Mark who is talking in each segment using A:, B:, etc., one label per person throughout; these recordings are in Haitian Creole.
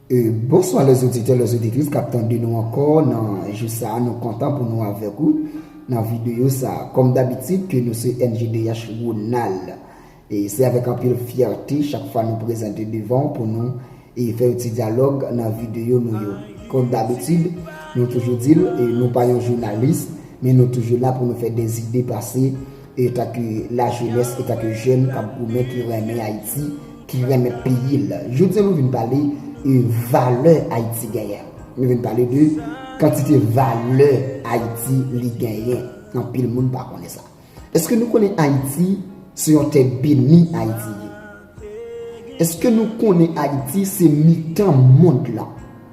A: Bonswa les auditeurs, les auditrices kap tande nou ankò nan jou sa a, nou kontan pou nou avèk ou nan videyo sa a. Kòm dabitid ke nou se NJDH Ronald, e se avèk anpil fyète chak fwa nou prezante devan ou pou nou fè yon ti dyalòg nan videyo nou yo. Kòm dabitid, nou toujou di l, nou pa yon jounalis, men nou toujou la pou nou fè dè zide pase. E ta ke la jenes, e ta ke jen kap goumen ki renmen Ayiti, ki renmen peyi l. Jodi an nou vin pale e valè Ayiti genyen. Nou vin pale de kantite valè Ayiti li genyen. Anpil moun pa konnen sa. Eske nou konnen Ayiti se yon tè beni Ayiti ye? Eske nou konnen Ayiti se mitan mond la?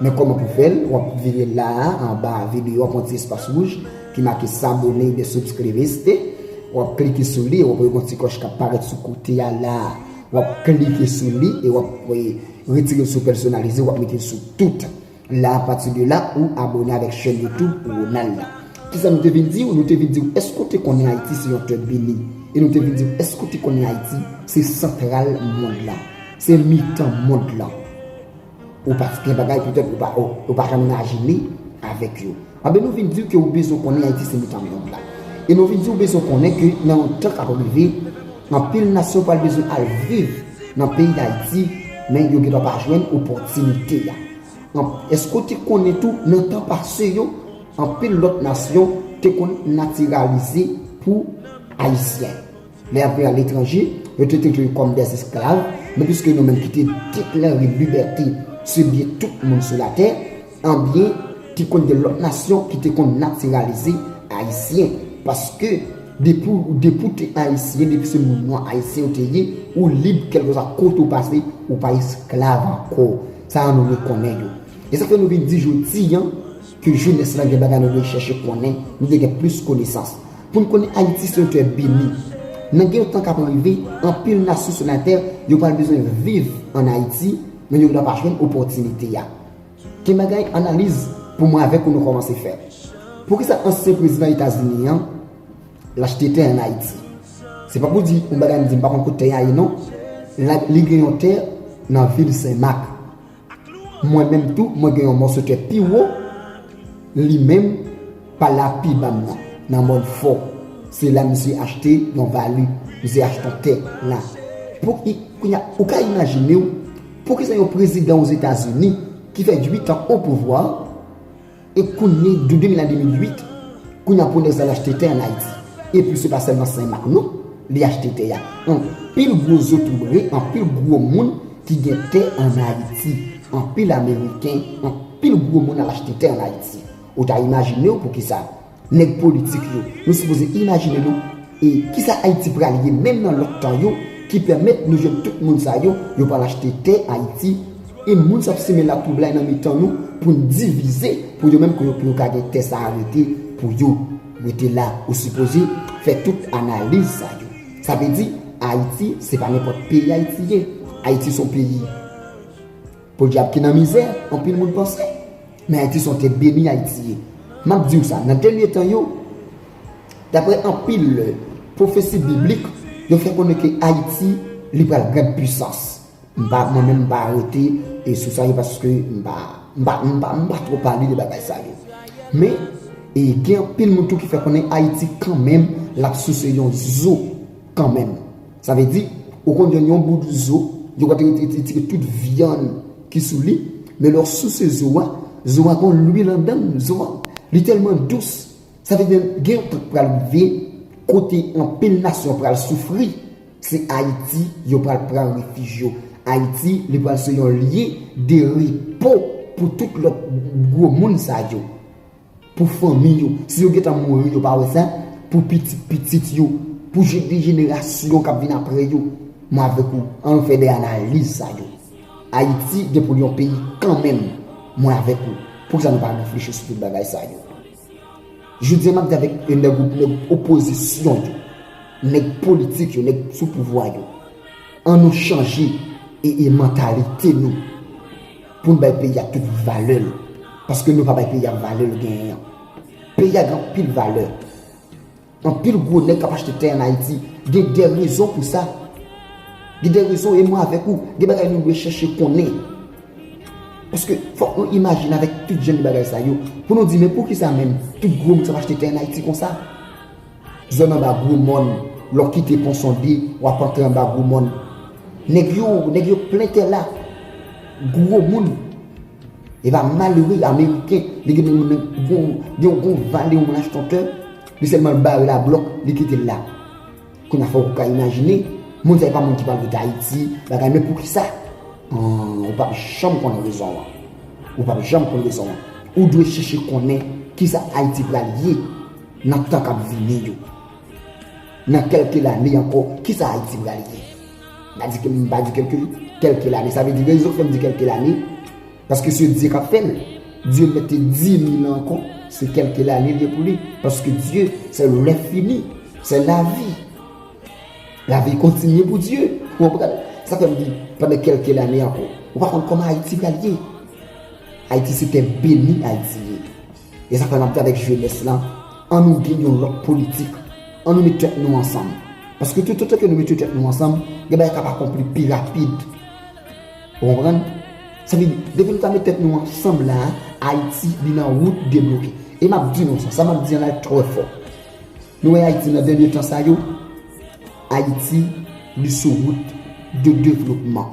A: Men kòman pou fèl, wap vire la a anba video wap wè ti espas wouj ki make s'abonner oubyen subscribe ste, wap klike sou li, wap wè gon ti klòch kap parèt sou kote a la a, wap klike sou li e wap retirel sou pèsonalize wap metel sou tout. La a pati de la ou abone avèk chèn YouTube Ronald la. Kisa nou te vin diw, nou te vin diw èske ou te konnen Ayiti se yon tè beni e nou te vin diw èske ou te konnen Ayiti se santral mond la, se mitan mond la. Ou pa gen bagay pou tèt ou pa janm najile avèk yo. Anben nou vin diw ke ou bezwen konnen Ayiti se mitan mond la. E nou vin diw bezwen konnen ke nan yon tan kap rive, anpil nasyon pral bezwen al viv nan peyi Dayiti men yo gendwa pa jwenn opòtinite a. Eske ou te konnen tou nan tan pase yo, anpil lòt nasyon te konn natiralize pou Ayisyen. Lè y ap viv aletranje, yo te trete yo kòm dè esklav, men piske nou menm ki te deklare libète se byen tout moun sou latè, anbyen te konn gen lòt nasyon ki te konn natiralize Ayisyen, paske depi ou depi ou te Ayisyen, depi se moun nwa Ayisyen ou te ye, ou lib kèlkeswa kote ou pase, ou pa esklav ankò. Sa a nou rekonnen yo. E sa fè nou vin di jodi an. Ke jenès la gen bagay nou dwe chèche konnen, nou dwe gen plis konesans. Pou n konnen Ayiti se yon tè beni. Nan gen yon tan k ap rive, anpil nasyon sou latè yo pral bezwen viv ann Ayiti, men yo gendwa pa jwenn opòtinite a. Gen bagay analiz pou mwen avèk ou nou kòmanse fè. Poukisa ansyen prezidan Etazini an l achte tè ann Ayiti? Se pa pou di yon bagay m di m pa konn kot tè a ye non. Li gen yon tè nan vil Sen Mak. Mwen menm tou mwen gen yon mòso kè pi wo li menm pa lav pi ba m nan nan mòn fò se la misye achte yon vali misye achte yon tè la pou ki kounya ou ka imajine w poukisa yon prezidan ozetazini ki fè 8 an o pouvwa E kounye de 2000 a 2008, kounye a Prod'Or sa al achte tè an Ayiti. E pi se pa sèlman Sen Mak non, li achte tè a. Anpil gwo zotobre, anpil gwo moun ki gen tè an Ayiti. Anpil Ameriken, anpil gwo moun al achte tè an Ayiti. Ou ta imajine w poukisa. Nèg politik yo, nou sipoze imajine nou e kisa Ayiti pral ye menm nan lòt tan yo ki pèmèt nou jwenn tout moun sa yo, yo pral achte tè Ayiti e moun sa ap simen latwoublay nan mitan nou pou n divize pou yo menm pou yo ka gen tè sa a rete pou yo. Rete la ou sipoze fè tout analiz sa yo. Sa vle di Ayiti se pa nenpòt peyi Ayiti ye. Ayiti son peyi. Podyab ki nan mizè anpil moun panse. Men Ayiti se yon tè beni Ayiti ye. M ap di w sa, nan dènye tan yo, daprè anpil pwofesi biblik, yo fè konnen ke Ayiti li pral gran pwisans. M pa, mwen menm m pa rete sou sa yo paske m pa, m pa, m pa, m pa twò pale de bagay sa yo. Men, gen anpil moun tou ki fè konnen Ayiti kanmenm l ap souse yon zo kanmenm. Sa vle di, ou konn jwenn yon bout zo, yo pral te retire tout vyann ki sou li, men lè w souse zo a, zo a gon lwil anndan l, zo a, li tèlman dous, sa vle di menm gen yon tan k pral rive kote anpil nasyon pral soufri, se Ayiti yo pral pran refij yo. Ayiti, li pral se yon lye de repo pou tout lòt gwo moun sa yo. Pou fanmi yo, si yo gentan mouri yo pa wè sa, pou pitit pitit yo, pou de jenerasyon k ap vin apre yo. Mwen avèk ou, an nou fè de analiz sa yo. Ayiti gen pou l yon peyi kanmenm, mwen avèk ou. Poukisa nou pa reflechi sou tout bagay sa yo? Jodi an m ap di avèk nèg ou, nèg opozisyon yo, nèg politik yo, nèg sou pouvwa yo, an nou chanje e mantalite nou. Poun bay peyi a tout valèl. Paske nou pa bay peyi a valèl genyen an. Peyi a gen anpil valè. Anpil gwo nèg kap achte tè an Ayiti. Gen de rezon pou sa. Gen de rezon e mwen avèk ou. Gen bagay nou dwe chèche konnen. Paske fòk nou imajine avèk tout jen de bagay sa yo. Pou nou di men pou ki sa menm tout gwo moun sa ap achte tè an Ayiti konsa. Zòn anba gwo mòn, lè w kite pon sonde, w ap antre anba gwo mòn. Nèg yo, nèg yo plen tè la. Gwo moun. Epa malere ameriken, li gen moun nan, gen yon gwo vale yon rastontè, li sèlman l bare l a blòk, li kite l la. Kounye a fè w ka imajine, moun sa yo pa moun ki pral rete Ayiti, bagay men poukisa? An, ou p ap janm konn rezon an. Ou p ap janm konn rezon an. Ou dwe chèche konnen kisa Ayiti pral ye. Nan tan kap vini yo. Nan kelke lane anko ki sa Haiti pral ye. Mpa di ke mpa di kelke kelke lane sa vle di rezon ki fem di kelke lane paske se Dieu kap fel. Dieu mete di li nan anko se kelke lane liye pou li paske Dieu se le fini se la vi. La vi kontinye pou Dieu ou konprann. Sa fem di pandan kelke lane anko. Ou pa konn koman Haiti pral ye. Haiti se te beni Haiti ye. E sa fè map di avèk jenès la, an nou gen yon lòt politik, an nou met tèt nou ansanm. Paske tout otan ke nou mete tèt nou ansanm, gen bagay kap akonpli pi rapid. Ou konprann? Sa vle di, depi nou ta met tèt nou ansanm la, Ayiti li nan wout debloke. E map di nou sa, sa map di an la li trè fò. Nou wè Ayiti nan dènye tan sa yo, Ayiti li sou wout de devlopman.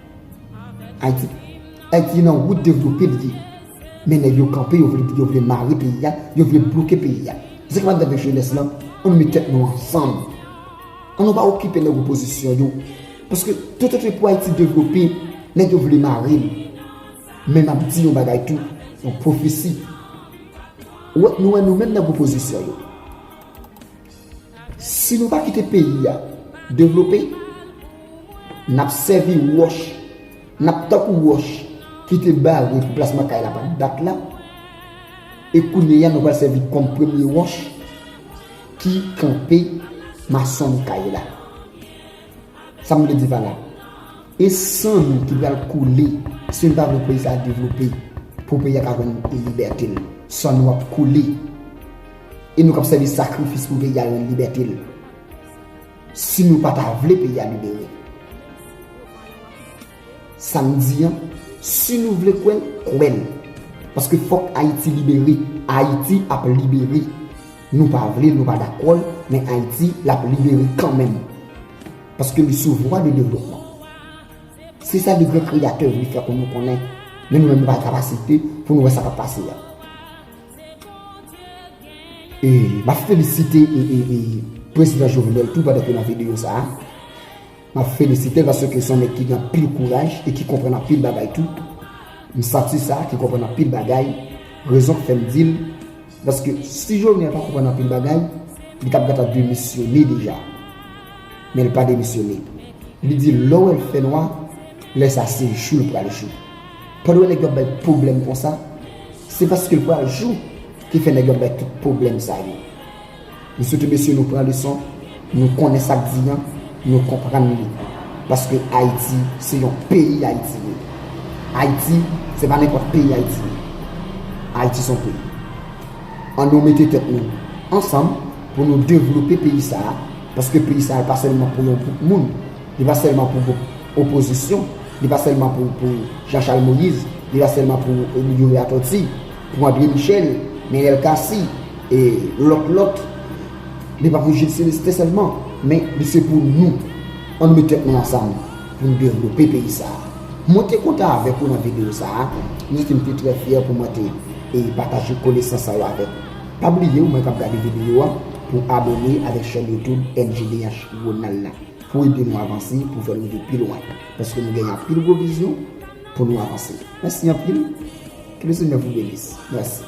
A: Ayiti Ayiti nan wout devlope li ye men nèg yo kanpe yo vle yo vle mare peyi a yo vle bloke peyi a se sa ki pral rive avèk jenès lan annou met tèt nou ansanm annou pa okipe nèg opozisyon yo paske tout ote pou Ayiti devlope nèg yo vle mare l men map di yon bagay tou yon pwofesi nou wè nou menm nèg opozisyon yo. Si nou pa kite peyi a devlope, n ap sèvi wòch, n ap tankou wòch ki te bare pou plasman kay la pa t bat la, e kounye a nou pral sèvi kòm premye wòch ki kanpe mason kay la. Sa m vle di pa la, e san nou ki pral koule si nou pa vle peyi sa a devlope pou peyi a ka jwenn libète l. San nou ap koule. E nou kap sèvi sakrifis pou peyi a rann libète l. Si nou pa ta vle peyi a libere. Sa m di an, si nou vle kwè l, kwè l. Paske fòk Ayiti libere. Ayiti ap libere. Nou pa vle l, nou pa dakò l, men Ayiti l ap libere kanmenm. Paske li sou vwa de devlopman. Se sa de gran kreyatè vle fè pou nou konnen. Men nou menm nou pa kapasite pou nou wè sa kap pase a. E map felisite prezidan Jovenel tou pandan ke nan video sa a. Map felisitel paske se yon nèg ki gen anpil kouraj e ki konprann anpil bagay tou. M santi sa ki konprann anpil bagay. Rezon ki fèm dil paske si Jovenel pa konprann anpil bagay, li tap gentan demisyone deja. Men li pa demisyone. Li di lè ou wèl fè nwa, lè sa se jou li pral jou. Pandan nèg yo ap bay pwoblèm konsa, se paske l pral jou ki fè nèg yo ap bay tout pwoblèm sa yo. M swete mesye nou pran leson, nou konnen sa k di an, nou konprann li. Paske Ayiti se yon peyi Ayiti ye. Ayiti se pa nenpòt peyi Ayiti ye. Ayiti se yon peyi. An nou mete tèt nou ansanm pou nou devlope peyi sa a, paske peyi sa a pa sèlman pou yon gwoup moun, li pa sèlman pou gwoup. Opozisyon, li pa sèlman pou Jean Charles Moïse, li pa sèlman pou Emilio Latorti, pou André Michel, Neel Cassy, e lòt lòt, li pa pou Jules Celestin sèlman, men li se pou nou. An nou met tèt nou ansanm pou nou devlope peyi sa a. Mwen te kontan avèk ou nan videyo sa a, mwen santi m te trè fyè pou mwen te pataje konesans sa yo avèk ou. Pa bliye ou menm k ap gade videyo a pou abone avèk chèn YouTube MJDH Ronald la. Pou ede nou avanse, pou fè nou rive pi lwen. Paske nou genyen anpil gwo vizyon pou nou avanse. Mèsi anpil. Ke le Senyè vou benis. Mèsi.